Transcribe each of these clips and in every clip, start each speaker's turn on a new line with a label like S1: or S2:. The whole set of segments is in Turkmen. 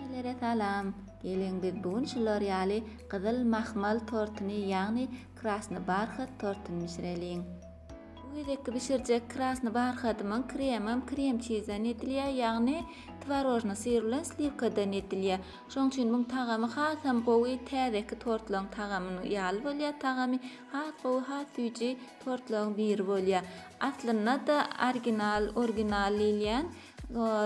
S1: Hemmelere salam! Geliň biz bu gün şular ýaly gyzyl mahmal tortuny ýagny krasny barhat tortuny bişireliň. Bu gezekki bişirjek krasny barhadymyň kremam krem çizden edilýär ýagny twarožny syr bilen sliwkadan edilýär. Şoň üçin muň tagamy hasam gowy täzeki tortlaň tagamyny ýaly bolýar tagamy has gowy has süýji tortlaň biri bolýar. Aslynda da arginal orginal diýilýän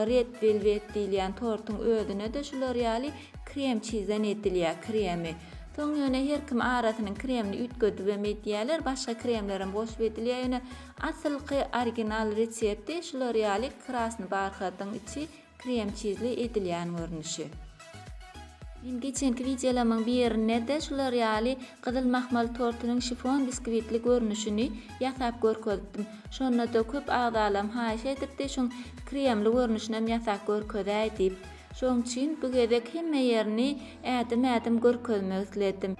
S1: Red velwet diýilýän tortuň özüne-de şular ýaly krem çizan edilýär, kremi. Soň ýöne her kim arasynyň kremini üýtgedibem edýärler, başga kremlerem goşup edilýär, ýöne asylky original resepti şular ýaly krasny barhatyň içi krem çizli edilýän görnüşi. Men geçenki wideolamyň birinde-de şular ýaly gyzyl mahmal tortunyň şifon biskwitli görnüşini ýasap görkezipdim. Şonda-da köp agzalam haýyş edipdi şuň kremli görnüşinem ýasap görkezäý diýip. Şoň üçin bu gezek hemme ýerini ädim-ädim görkezmek isledim.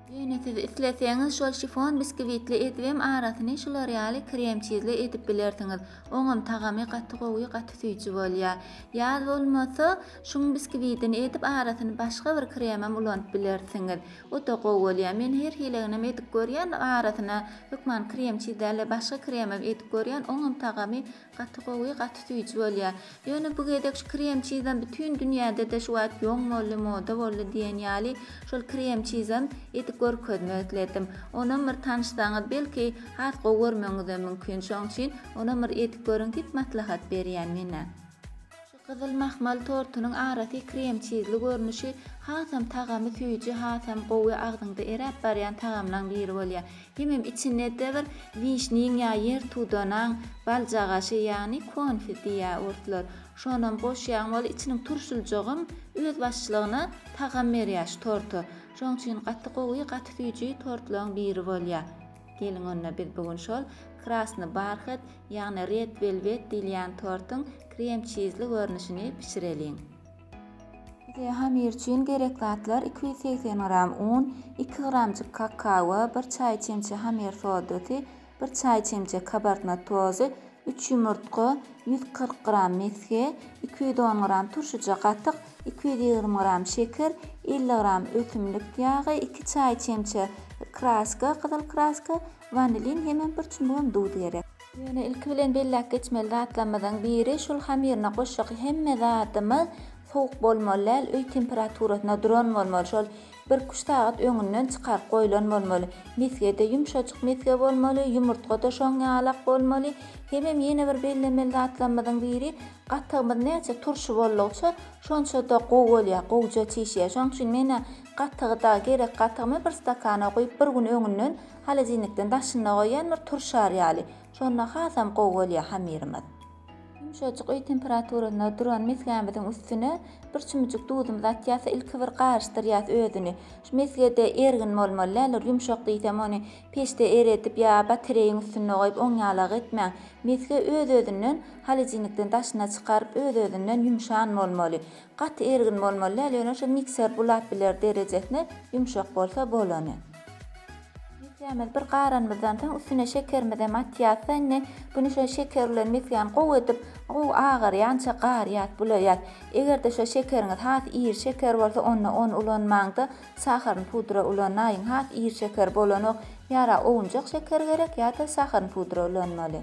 S1: Ýöne siz isleseňiz şol şifon biskvitli ezibem arasyny şular ýaly kremçizli ezip bilersiňiz. Oňam tagamy gaty gowy gaty süýji bolýar. Ýaz bolmasa şuň biskvitini ezip arasyny başga bir kremem ulanyp bilersiňiz. Oda gowy bolýar. Men her hileginem edip görýän arasyna hökman kremçiz däl-de başga kremem edip görýän oňam tagamy Gaty gowy gaty süýji bolýa. Ýöne bu gezek şu krem çizem bütün dünýädede şu wagt ýoň boldy moda boldy diýen ýaly şol krem çizem edip görkezmek isledim. Onam bir tanyşsaňyz belki has gowy görmegiňizem mümkin şoň üçin onam bir edip görüň diýip maslahat berýän menä. Gyzyl mahmal tortunyň arasy krem-çizli görnüşi hasam tagamy süýji hasam gowy agzyňda eräp barýan tagamlaň biri bolýar. Hemem içinde edebir wişniň ýa ýer tudanaň baljagaşy ýagny konfi diýýä orslar. Şonam goşýaň wol içiniň turşuljygym öz başlygyna tagam berýär şu torta. Şoň üçin gaty gowy gaty süýji tortlaň biri bolýar. Geliň onda biz bu gün şol krasny barhet, ýagny red welwet diýilýän tortuň krem çizli görnüşini bişireliň. Bize hamyr üçin gerek zatlar iki ýüz segsen gram un, iki gramjyk kakawa, bir çaý çemçe hamyr sodasy, bir çaý çemçe kabartma tozy, üç ýumurtga, ýüz kyrk gram mesge, iki ýüz on gram turşyja gatyk, iki ýüz ýigrimi gram şeker, elli gram ösümlik ýagy, iki çaý çemçe kraska, gyzyl kraska, wanilin hemem bir çumbugam duz gerek. Ýöne ilki bilen belläp geçmeli zatlarymyzyň biri, şol hamyryna goşjak hemme zadymyz sowuk bolmaly däl, öý temperaturasyna duran bolmaly. Şol Birküç sagat öňünden çykaryp goýlan bolmaly. Mesgede ýumşajyk mesge bolmaly, ýumurtga-da şoň ýalak bolmaly. Hemem ýene bir bellemeli zatlarymyzyň biri, gatygymyz näçe turşy boldugyça, şonça-da gowy bolýar, gowja çişýär. Şonuň üçin men-ä gatygy-da, gerek gatygymy bir stakana guýup, bir gün öňünden holodilnikden daşynda goýýan, bir turşar ýaly. Şonda hasam gowy bolýar hamyrymyz. Ýumşajyk öý temperaturasynda duran mesgämiziň üstüne bir çümüjik duzumyzy atýas-da, ilki bir garyşdyrýas özüni. Şu mesgede ergin bolmaly däl, bir ýumşak diýsem, ony peçde eredip ýa batareýiň üstünde goýup oň ýalag etmäň. Mesge öz-özünden holodilnikden daşyna çykaryp, öz-özünden ýumşan bolmaly. Gaty ergin bolmaly däl, ýöne şu mikser bulap biler derejesine ýumşak bolsa bolany. Misgämizi bir garanymyzdan soň üstüne şekerimizi hem atýas-da indi güni şo şeker bilen misgäni gowy edip gowy agarýança garýas, bulaýas. Eger-de şo şekeriňiz has iri şeker bolsa onda ony ulanmaň-da saharn pudra ulanaýyň, has iri şeker bolanok, ýara owunjak şeker gerek ýa-da saharn pudra ulanmaly.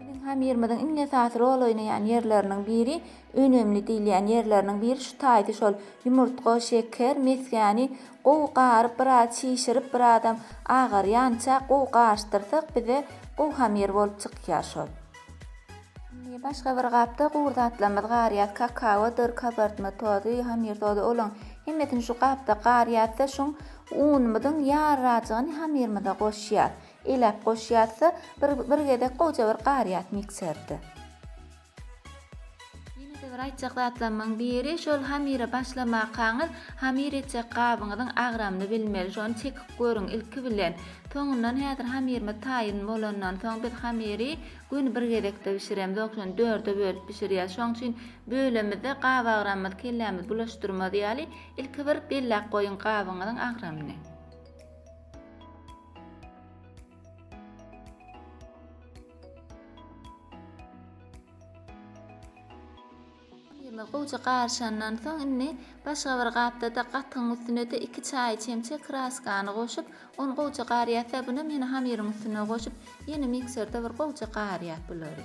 S1: Biziň hamyrymyzyň iň esasy rol oýnaýan ýerleriniň biri, önemli diýilýän ýerleriniň biri şu taýdy şol, ýumurtga, şeker, mesgäni gowy garyp, biraz çişirip, birazam agarýança gowy garyşdyrsak, bize gowy hamyr bolup çykýar şol. Indi başga bir gapda gury zatlarymyzy garýas, kakaodyr, kabartma tozy, hamyr tozy, olaň hemmesini şu gapda garýas-da, şuň unumyzyň ýarrajygyny hamyrymyza goşýas. Elap goş ýazsa bir bir gezek gowja bir gar ýaz mikserde. Ýenede bir aýtjak zatlamyň biri şol hamire başlamakaňyz hamir etjek gabyňyzyň agramyny bilmeli şony çekip görüň ilki bilen soňundan häzir hamirimiz taýyn bolandan soň biz hamiri gün bir gezekde bişiremiz ok şony dörde bölüp bişirýäs şoň üçin bölemizde gap agramymyz kellämiz bulaşdyrmaz ýaly ilki bir bellap goýuň gabyňyzyň agramyny. Kremi gowja garyşandan soň indi başga bir gapda-da gatygyň üstüne-de iki çaý çemçe kraskany goşup, ony gowja garyýas we bunam ýene hamyryň üstüne goşup, ýene mikserde bir gowja garyýas bulary.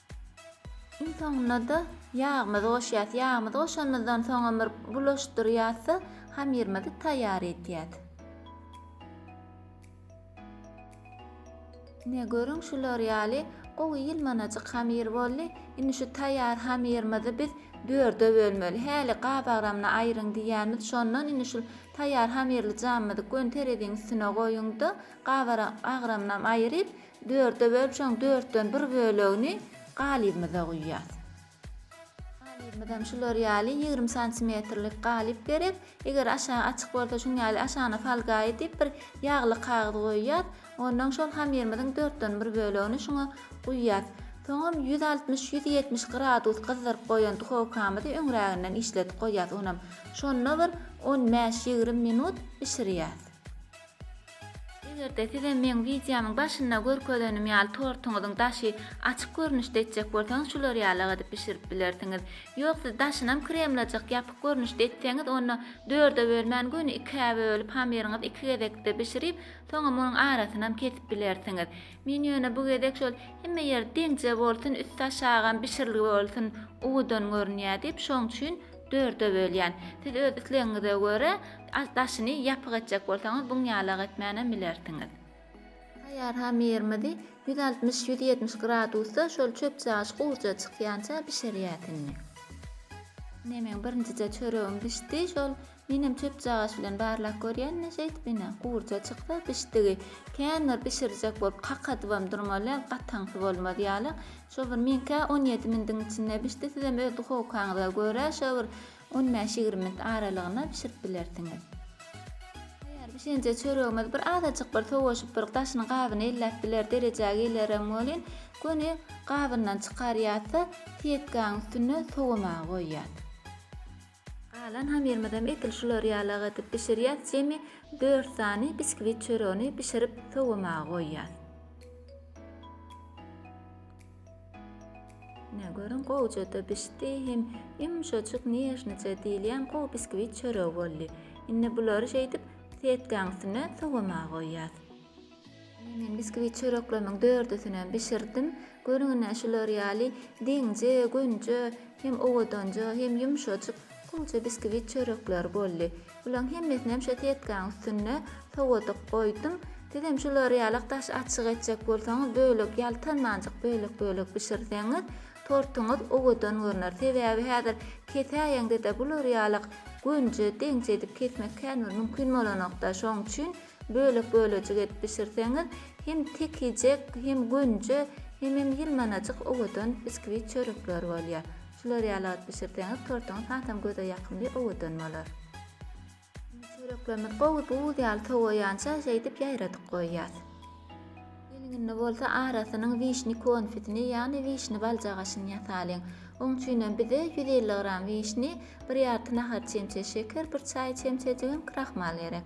S1: Iň soňunda-da ýagymyzy goşýas. Ýagymyzy goşanymyzdan soňam bir bulaşdyrýas-da, hamyrymyzy taýýar edýäs. Ine, görüň, şular ýaly gowy ýylmanajyk hamyr boldy. Indi şu taýýar hamyrymyzy biz dörde bölmeli. Häli gabagramyny aýryň diýýärmiz. Şondan indi şu taýýar hamyrly jamymyzy göni tereziň üstüne goýuň-da, gabagramynam aýryp, Dörde bölüp, şoň dörtden bir bölegini galybymyza guýýas. Galybymyzam şular ýaly ýigrimi santimetrlik galyp gerek. Eger aşagy açyk bolsa, şuň ýaly aşagyna folga edip, bir ýagly kagyz goýýas. Onnoň şol hamyrymyzyň dörtden bir bölegini şuňa guýýas. Soňam ýüz altmyş, ýüz ýetmiş gradus gyzdyryp goýan duhowkamyzy öňräginden işledip goýýas onam. Şonda bir on bäş, ýigrimi minut bişirýäs. Eger-de size meň wideomyň başynda görkezenim ýaly tortuňyzyň daşy açyk görnüşde etjek bolsaňyz şular ýalak edip bişirip bilersiňiz. Ýok siz daşynam kremlajak ýapyk görnüşde etseňiz onda dörde bölmän göni ikä bölüp hamyryňyzy iki gezekde bişirip soňam onuň arasynam kesip bilersiňiz. Men ýöne bu gezek şol hemme ýeri deňje bolsun üsti aşagam bişirilgi bolsun uwudan görünýä diýip şoň üçin dörde bölýän. Siz öz islegiňize görä Aht daşyny ýapyk etjek bolsaňyz buňýalak etmänem bilersiňiz. Taýýar hamyrymyzy ýüz altmyş, ýüz ýetmiş gradusda şol çöpçagyş gurja çykýança bişirýäs indi. Ine meň birinjije çöregim bişdi şol menem çöpçagyş bilen barlap görýän ine şeýdip ine gurja çyksa bişdigi kän bir bişirjek bolup kakadybam durmaly gataňsy bolmaz ýaly şo bir meňkä on ýedi mindiň içinde bişdi sizem öz duhowkaňyza görä şo bir On bäş-ýigrimi minut aralygyna bişirip bilersiňiz. Taýýar bişenje çöregimiz bir azajyk bir sowaşyp bir daşyny gabyny elläp biler derejä gelerem welin göni gabyndan çykarýasda sietkaň üstünde sowamaga goýýas. Galan hamyrymyzam edil şular ýalak edip bişirýas jemi dört sany biskwit çöregini bişirip sowamaga goýýas. Ine, görüň, gowuja-da bişdi, hem ýumşajyk, nežnije diýilýän gowy biskwit çöregi boldy. Indi bulary şeýdip, setkäň üstüne sowamaga goýýas. Ine, men biskwit çöreklerimiň dördüsinem bişirdim. Görüň, ine, şular ýaly deňje, gönje, hem owadanja, hem ýumşajyk, gowuja biskwit çörekleri boldy. Bulaň hemmesinem şo setkaň üstünde sowadyp goýdum. Sizem şular ýalak daş açyk etjek bolsaňyz bölek ýaltanmanjyk bölek bölek bişirseňiz tortuňyz owadan görner. Sebäbi häzir kesäýeňdede bular ýalak gönje deňje edip kesmek kän bir mümkin bolanokda şoň üçin bölek bölejik edip bişirseňiz hem tekijek hem gönje hemem ýylmanajyk owadan biskvit çörekler bolýar. Şular ýaly alyp bişirseňiz tortuňyz hasam göze ýakymly owadan bolar. Indi çöreklerimiz gowy buz ýaly sowaýança şeýdip ýaýradyp goýýas. Gelňinde bolsa arasynyň wişni konfetini ýagny wişni baljagaşyny ýasalyň. Oň üçinem bize ýüz elli gram wişni, bir ýarty nahar çemçe şeker, bir çaý çemçejigem krahmal gerek.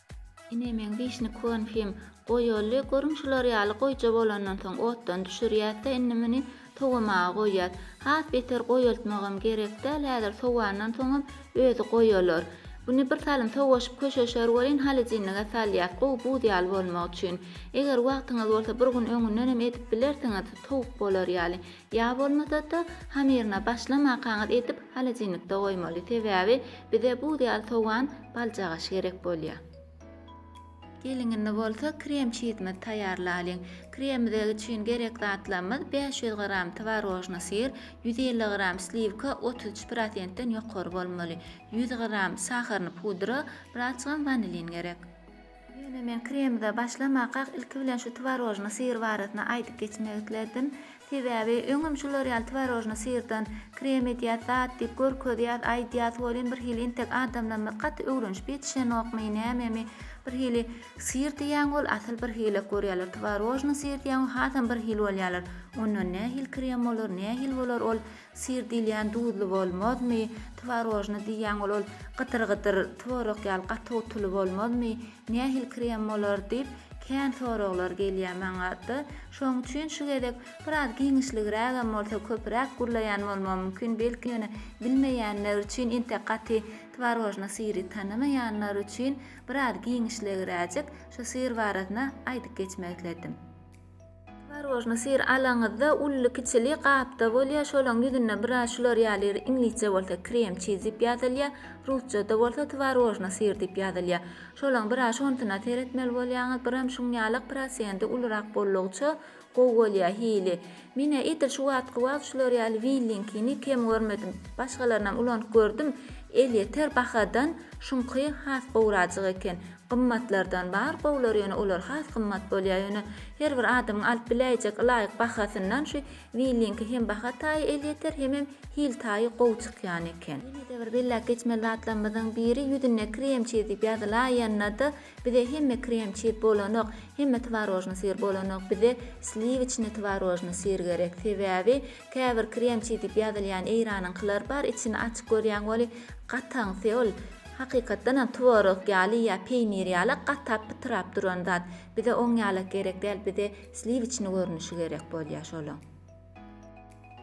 S1: Ine meň wişni konfim. Goýaly, görüň şular ýaly goýja bolandan soň otdan düşürýäs-de indi muny sowamaga goýýas. Has beter goýaltmagam gerek däl, häzir sowandan soňam özi goýalar. Buny bir salym sowaşyp köşeşer welin holodilnige salýas, gowy buz ýaly bolmagy üçin. Eger wagtyňyz bolsa bir gün öňündenem edip bilersiňiz, towuk bolar ýaly. Ýa bolmasa-da, hamyryna başlamakaňyz edip holodilnikde goýmaly, sebäbi bize buz ýaly sowan baljagaş gerek bolýar. Geliň indi bolsa krem çizimizi taýýarlalyň. Kremimize üçin gerek zatlarymyz bäş ýüz gram twarožnyý syr, ýüz elli gram sliwka otuz üç prosentden ýokary bolmaly, ýüz gram saharyny pudra, birazjygam wanilin gerek. Ýöne men kremde başlamakak ilki bilen şu twarožnyý syr barasynda aýdyp geçmek isledim. Sebäbi öňem şular ýaly twarožnyý syrdan krem edýäs, zat diýip görkezýäs, aýdýas, welin bir hili entek adamlarymyz gaty öwrenişip ýetişenokmy, nämemi, bir hili syr diýýäň ol asyl bir hilek görýärler, twarožnyý syr diýýäň ol hasam bir hil bolýarlar. Ondan nähili krem bolar, nähili bolar ol Syr diýilýän duzly bolmazmy? Tworojny diýýäň ol ol gydyr-gydyr tworog ýaly gaty gutuly bolmazmy? Nähili krem bolar? diýip, kän soraglar gelýär maňa-da. Şonuň üçin şu gezek biraz giňişligrägem bolsa köpüräk gürleýän bolmam mümkin, belki ýöne bilmeýänler üçin, entek gaty tworojny syry tanamaýanlar üçin biraz giňişligräjik şu syr barasynda aýdyp geçmek isledim. Tworojny syr alaňyzda uly-kiçili gapda bolýar, şolaň ýüzünde biraz şular ýaly iňlisçe bolsa krem çiz diýip ýazylýar, rusçada bolsa tworojny syr diýip ýazylýar. Şolaň biraz şonsyna seretmeli bolýaňyz, biram şuň ýalak prosenti ulurak bollugyça gowy bolýar hili. Menä edil şu wagtky wagt şular ýaly willinkini kem görmedim. Başgalarynam ulanyp gördüm, elýeter bahadan şuňky has gowrajyk eken. Gymmatlardan bar gowular ýöne olar has gymmat bolýar ýöne her bir adamyň alyp biläýjek ylaýyk bahasyndan şu willinki hem baha taýy elýeter hemem hil taýy gowy çykýan eken. Ýenede bir belläp geçmeli zatlarymyzyň biri ýüzünde krem çiz diýip ýazylaýanda bize hemme krem çiz bolanok hemme twarožny syr bolanok bize sliwiçny twarožny syr gerek sebäbi Käbir kremçi diýip ýazylýan eýranyňkylar bar içini açyp görýäň weli gataňsy ol hakykatdanam tworog ýaly ýa peýnir ýala gatap pytrap duran zat bize oň ýalak gerek däl bize sliwiçni görnüşi gerek bolýa şolaň.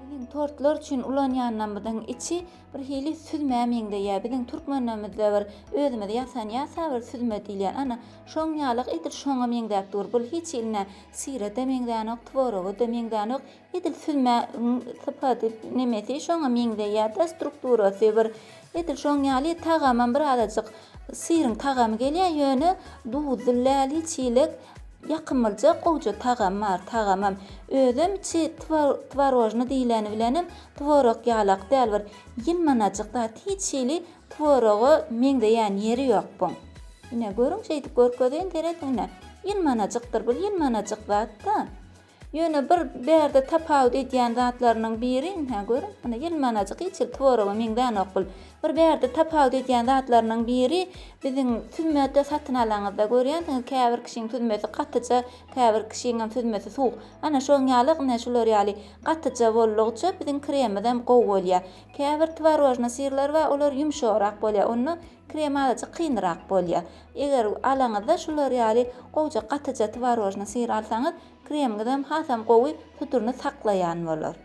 S1: Biziň tortlar üçin ulanýanymyzyň içi bir hili süzmä meňzeýä biziň türkmenlerimizde bir özümiz ýasan ýasa bir süzme diýilýän ana şoň ýalak edil şoňa meňzäp dur bul hiç hiline syra-da meňzänok tworoga-da meňzänok Edil süzmägiň sypady nemesi şoňa meňzeýärde strukturasy bir edil şoň ýaly tagamam birazajyk syryň tagamy gelýär ýöne duzly läli çilek ýakymlyja gowja tagamy bar tagamam özem içi twarojny diýleni bilenem tworog ýalak däl bir ýylmanajyk zat hiç hili tworoga meňzeýän ýeri ýok buň ine görüň şeýdip görkezeýin seredin ine ýylmanajykdyr bir ýylmanajyk zatda Ýöne bir bärde tapawut edýän zatlarynyň biri, hä, görüň, ine, ýelmanajyk hiç hili tworaga meňzänok bul. Bir bärde tapawut edýän zatlarynyň biri, biziň süzmede satyn alaňyzda görýänsiňiz, käbir kişiň süzmesi gatyja, käbir kişiňem süzmesi suwuk. Ana, şoň ýaly, ine, şular ýaly gatyja boldugyça, biziň kremimizem gowy bolýar. Käbir tworojnyý syrlar bar, olar ýumşagrak bolýar, onda Krem azajyk kynrak bolýar. Eger alaňyzda şular ýaly gowja gatyja twarožnyý syr alsaňyz, kremiňizem hasam gowy suduryny saklaýan bolar.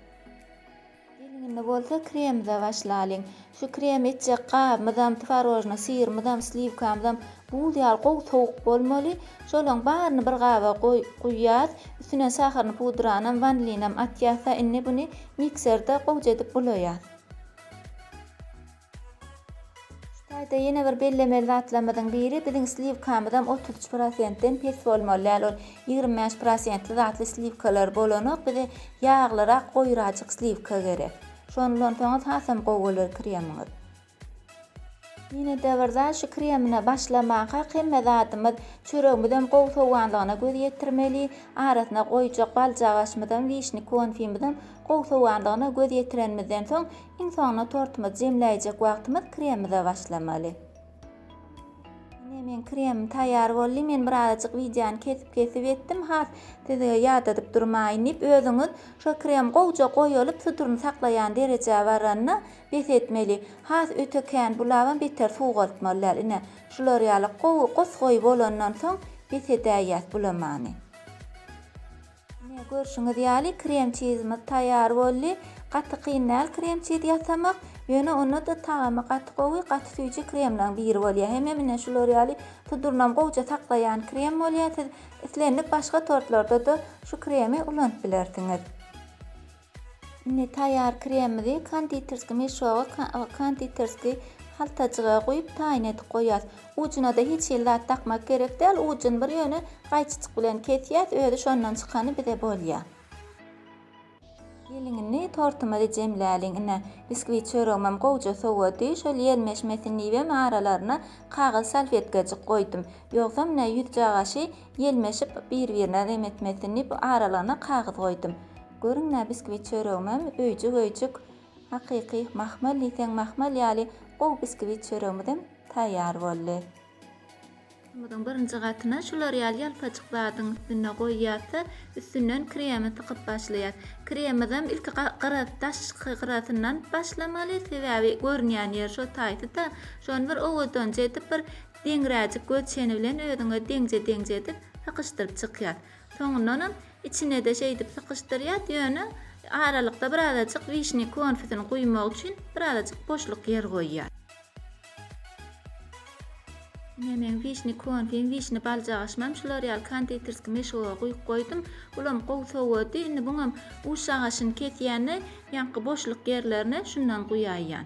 S1: Indi bolsa kremimize başlalyň. Şu kremi etjek gabymyzam, twarožnyý syrymyzam, sliwkamyzam buz ýaly gowy sowuk bolmaly. Şolaryň baryny bir gaba guýýas. Üstüne saharyny pudranam, wanilinam atýas-da, indi buny mikserde gowja edip bulaýas. Şu taýda ýene bir bellemeli zatlarymyzyň biri biziň sliwkamyzam otuz üç prosentden pes bolmaly däl ol ýigrimi bäş prosentli datly sliwkalar bolanok bize ýaglyrak goýrajyk sliwka gerek şony ulansaňyz hasam gowy bolar kremyňyz. Ýenede bir zat şu kremine başlamakak hemme zadymyz çöregimizem gowy sowanlygyna göz ýetirmeli arasyna goýjak baljagaşymyzam wişni konfimizem gowy sowanlygyna göz ýetirenimizden soň Iň soňunda tortymyzy jemläýjek wagtymyz kremimize başlamaly. Ine meň kremim taýýar boldy. Men bir azajyk wideony kesip-kesip etdim. Has size ýadadyp durmaýyn diýip, özüňiz şo krem gowja goýalyp, suduryny saklaýan derejä baranda bes etmeli. Has öte kän bulabam beter suwgaltmaly däl. Ine, şular ýaly gowy, gos-goýy bolandan soň bes edäýýäs bulamany. Mine görşüňiz ýaly krem çizimiz taýýar boldy. Gaty kyn däl krem çiz ýasamak. Ýöne onda-da tagamy gaty gowy, gaty süýji kremlaň biri bolýar. Hemem mine şular ýaly tudurnam gowja saklaýan krem bolýar. Siz islendik başga tortlarda-da şu kremi ulanyp bilersiňiz. Indi taýýar kremimizi konditerskiý meşoga, konditerskiý haltajyga guýup taýyn edip goýýas. Ujuna-da hiç hili zat dakmak gerek däl, ujuny bir ýöne gaýçyjyk bilen kesýäs, özi şondan çykany bize bolýar. Geliň indi tortumyzy jemläliň. Ine, biskwi çöregimem gowja sowady. Şol ýelmeşmesin diýibem aralaryna kagyz salfetkajyk goýdum. Ýogsam ine ýüzjagaşy ýelmeşip bir-birine remetmesin diýip aralygyna kagyz goýdum. Görüň-ä biskvit çöregimem öýjük-öýjük, hakyky mahmal diýseň mahmal ýaly gowy biskvit çöregimizem taýýar boldy. Otymyzyň birinji gatyna şular ýaly ýalpajyk zadyň üstünde goýýas-da, üstünden kremi sykyp başlaýas. Kremimizem ilki gyra, daşky gyrasyndan başlamaly, sebäbi görünýän ýeri şo taýsy-da, şony bir owadança edip, bir deňräjik göz çeni bilen özüňe deňje-deňje edip sykyşdyryp çykýas. Soňundanam içine-de şeýdip sykyşdyrýas, ýöne aralykda birazajyk wişnýa konfetini guýmak üçin birazajyk boşluk ýer goýýas. Ine meň wişnýa konfim, wişnýa baljagaşymam şular ýaly konditerskiý meşguga guýup goýdum. Bulam gowy sowady. Indi buňam uç agaçyny kesýän-de, ýaňky boşluk ýerlerine şundan guýaýýan.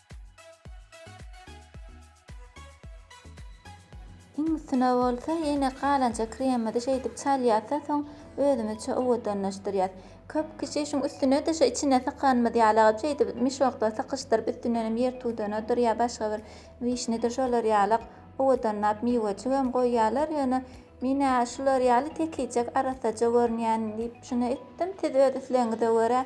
S1: Iň üstüne bolsa ýene galanja kremimizi şeýdip çalýarsa soň özümizçe owadanlaşdyrýas. Köp kişi şuň üstünede şu içine sykanymyz ýalygy şeýdip mişokda sykyşdyryp üstündenem ýer tudunadyr ýa başga bir wişnidir şolar ýalyk owadanlap miwejigem goýýarlar ýöne menä şular ýaly tekijek arassaja görünýän diýip şuna etdim siz öz islegiňize görä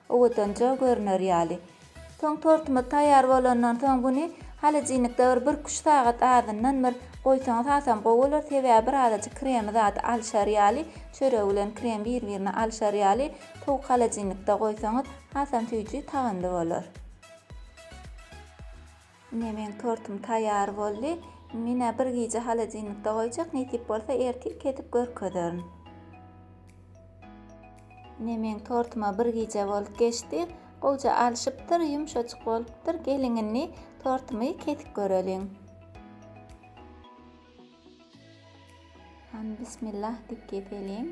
S1: Owadanja görner ýaly. Soň tortumyz taýýar bolandan soň buny holodilnikde bir bir küşt sagat azyndan bir goýsaňyz hasam gowy bolar sebäbi birazajyk kremi zady alyşar ýaly çörek bilen krem bir birine alyşar ýaly sowuk holodilnikde goýsaňyz hasam süýji tagamly bolar. Ine meň tortum taýýar boldy. Menä bir gije holodilnikde goýjak, nesip bolsa ertir kesip görkezerin. Ine meň tortuma bir gije bolup geçdi. Gowja alşypdyr, ýumşajyk bolupdyr. Geliň indi tortumy kesip göreliň. Hany bismillah diýip keseliň.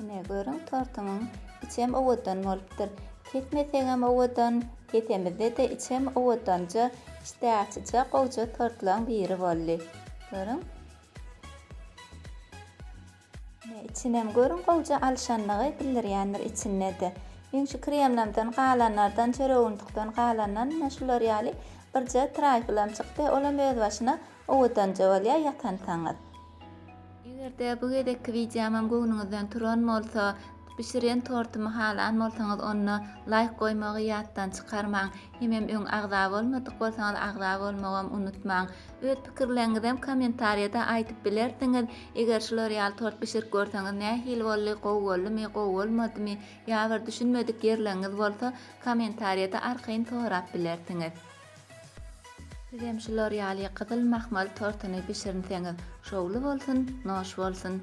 S1: Ine, görüň, tortumyň içem owadan bolupdyr. Kesmesegem owadan, kesemizde-de içem owadanja, işdäaçyja gowja tortlaryň biri boldy. Görüň. Ine içinem görüň gowja alşanlygy bildirýändir içindede meň şu kremlamdan galanlardan çöreguntukdan galandan ine şular ýaly birje traýflam çykdy olam öz başyna owadanja bolýa ýatansaňyz. Egerde bu gezekki wideomam göwnüňizden turan bolsa bişirýän tortumy halan bolsaňyz onda laýk goýmagy ýatdan çykarmaň. Hemem öň agza bolmadyk bolsaňyz agza bolmagam unutmaň. Öz pikirleriňizem kommentariýada aýdyp bilersiňiz. Eger şular ýaly tort bişirip görseňiz nähili boldy, gowy boldumy, gowy bolmadymy ýa bir düşünmedik ýerleriňiz bolsa kommentariýada arkaýyn sorap bilersiňiz. Sizem şular ýaly gyzyl mahmal tortuny bişirinseňiz şowly bolsun, noş bolsun.